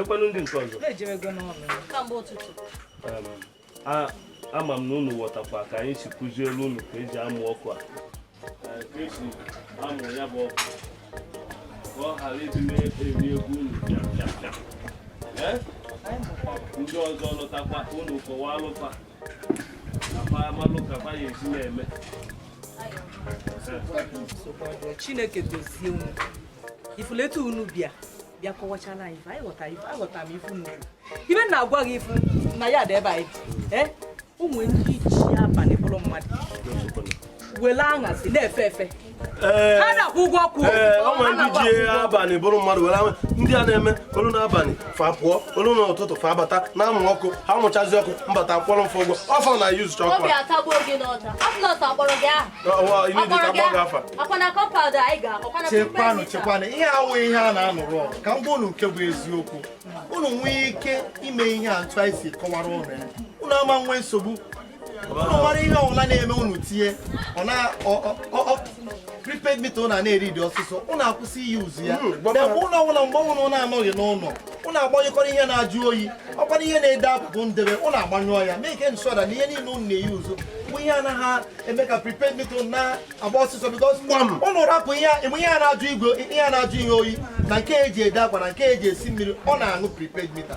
ekwenụ ndị nke ọzọ ama m na unu ghọtakwa ka anyị si kụziere unu ka eji amụ ọkụ a ka esi amụ ya bụ ọkụ ka ọ ghara ịdị na-eri ego unu ndị ọzọ lọtakwa unu kọwaalụ fa chineke gọzie unu ị fụlụ etu unu bịa bịa kọwachaala anyị anyị ghọtara ife aghọtara m ị fụ ife na-agwa gị ị fụ na ya dị ebe anyị ee o nwee ndị ji abalị bụrụ mmadụ were anyasị na-efe efe Eh, ha na-akwụ ụgwọ kwụ eh, o nwere ndị ji abalị bụrụ mmadụ were ndị a na-eme ọlụ n'abalị fa pụọ ọlụ n'ụtụtụ fa abata na-amụ ọkụ ha mụchazi ọkụ m bata kwụọrọ fa ụgwọ ọfọ na yuz chọkwa obi atagbuo gị n'ọta afụnọt akpọrọ gị aha chekwanụ chekwanụ ihe awụ ihe a na-anụrụ ọgụ ka m gwa unu nke bụ eziokwu unu nwee ike ime ihe a otu anyị si kọwara ụnụ ya unu ama nwee nsogbu ụnụ mara ihe ọbụla na-eme ụnụ tinye ọ na prepaid mita ụnụ a na-eri dị ọsịsọ ụnụ akwụsị i-use ya hmm, mgbe ụlọ ọbụla mgbe ọbụla ụnụ anọghị n'ụlọ ụnụ agbanyekọrọ ihe na-ajụ oyi ọkwara ihe na-ede abụbụ ndebe ụnụ agbanyụọ ya make sure that na ihe niile ụnụ na-e-use bụ ihe anaghị eme ka prepaid mita ụnụ na-agba ọsịsọ because ụnụ rapụ ihe enwe ihe a na-ajụ igwe ihe a na-ajụ ihe oyi na nke eji ede akwa na nke eji esi mmiri ọ na-aṅụ prepaid mita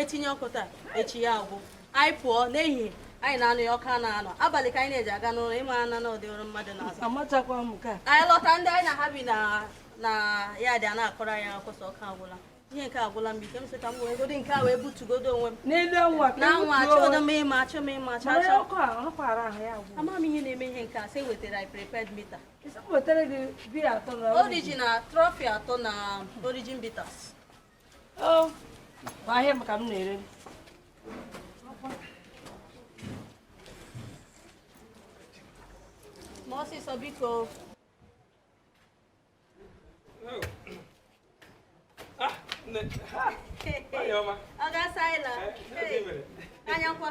etinye ọkụ taa echi ya agwụ anyị pụọ n'ehihie anyị ana-anọ ya ọ kwa naanị abalị ka anyị na-eji aga n'ụlọ ị ma na n'ụdị ọrụ mmadụ na-arụ anyị lọta ndị anyị na ha bi na yard a na-akọrọ anyị akụkọ sị ọkụ agwụla ihe nke a agwụla m ike m sị ka m wee godi nke a wee butugodu onwe m n'elu anwa na anwa achọdo m ịma achọ m ịma achọ achọ ama m ihe na-eme ihe nke a sị e wetara anyị prepaid mita Orijin na Trophy atọ na Orijin bitters Oh, ahịa m ka m na-ere mee ọsịsọ biko ọ ga-asa anyị na anyakwa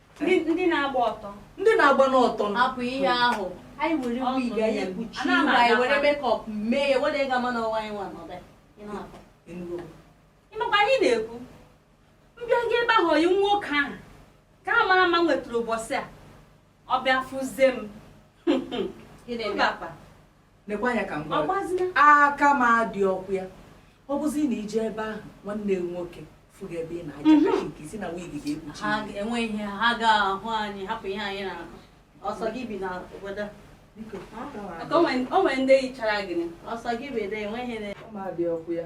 ndị na-agba ọtọ ndị na-agba n'ọtọ hapụ ihe ahụ anyị were wig anyị ekpuchi ihu anyị were makeup mee ya o nwedị ga-ama na ọ wụ anyị nwa n'ọbịa ị makwa ihe ị na-ekwu mbịa gị ebe ahụ oyi nwoke ahụ ka a mara mma nwetara ụbọchị a ọ bịa fụzie m lekwa anya ka m gwa gị. Agbazina. aka m adịrọkwa ya ọ bụzi na ị jee ebe ahụ nwanne gị nwoke fụ gị ebe ị na-aja Mhm. kachi nke ị sị na wig ga-ekpuchi ihu gị. enwe ihe ha ga-ahụ anyị hapụ ihe anyị na-akọ ọ sọ gị bi na obodo a. Biko, aka m adị- Maka o nwere- o nwere ndị yichara gị ọ sọ gị bi ebe enweghị na aka m adịrọkwa ya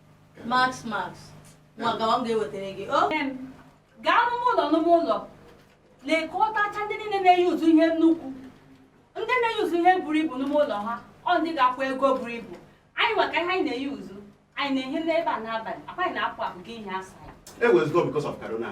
Max Max nwa gawa m ga-ewetara gị o gaa n'ụmụ ụlọ n'ụmụ ụlọ lekọtacha ndị niile na-e use ihe nnukwu ndị na-e use ihe buru ibu n'ụmụ ụlọ ha ọ ndị ga-akwụ ego buru ibu anyị maka ihe anyị na-e use anyị na-ehi n'ebe a n'abalị akwa anyị na-apụ apụ gị ihe asaa e wezụga because of corona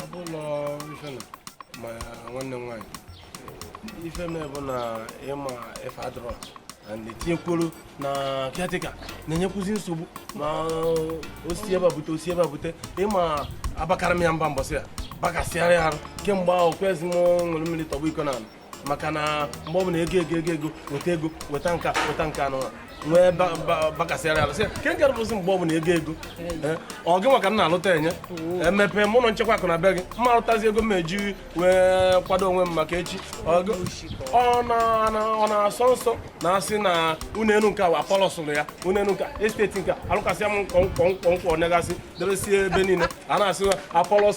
ọ bụlọ ife na ma nwanne m nwaanyị ife m bụ na ịma ife adịrọ and etinyekwuru na kiatika na-enyekwuzi nsogbu na o si ebe a bute o si ebe a bute ịma abakara m ya mba mbọsị ya bakasịara ya arụ kemgbe ahụ kwezi m ṅụrụ mmiri tọgbọ iko na ala maka na mgbe ọ bụla ego ego ego ego weta ego weta nke a weta nke a anụnwa nwee bakasịara ala sị ke nke rụbụzi mgbe ọ bụla ego ego eh, ọ gị maka na alụta enye emepe eh, m ụlọ nchekwa akụ na be gị mma alụtazi ego m eji wee kwado onwe m maka echi ọ na-asọ nsọ na asị na ụlọ elu nke wa palọsụlụ ya ụlọ elu nke esteti nke alụkasịa m nkwonkwo nkwọ nkwọ nkwọ negasị deresie ebe niile a na-asị apọlọs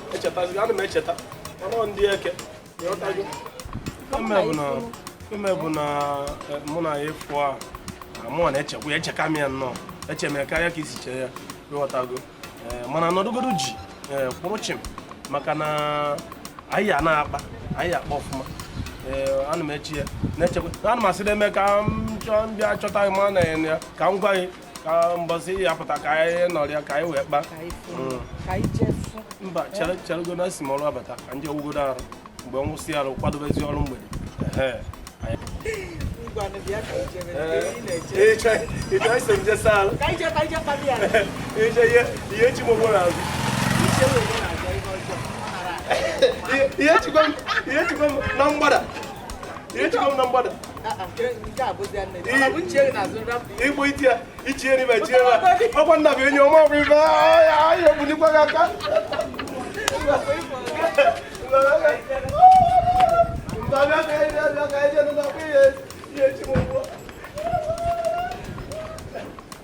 echetazi ana m echeta ọnụ ndị eke ịghọtago ime bụ na e, mụ na ya efu a mụ na-echekwa ya echeka m ya nnọọ eche m ya karịa ka i si chee ya ịghọtago e, mana nọdụgodo ji e, kwụrụ chi m maka na anyị a na-akpa anyị akpa ọfụma ana m eche ya na-echekwa ana m asị na-eme ka m chọọ ndị achọta ma na ya ka m gwa gị ka mbọsị ya pụta ka anyị nọrịa ka anyị wee kpa mm. mba cheregodo esi m ọrụ abata ka m jee wụgodo arụ mgbe m wụsị arụ kwadobezi ọrụ mgbede ihe chi mogbo na azụ ihe chikwa m na mgbada ihe chikwa m na mgbada igbo itie ichie n'ibe chie ọkwa nna bụ enyi ọma ọbụ ibe ahịa obunikwa gị aka Thank you.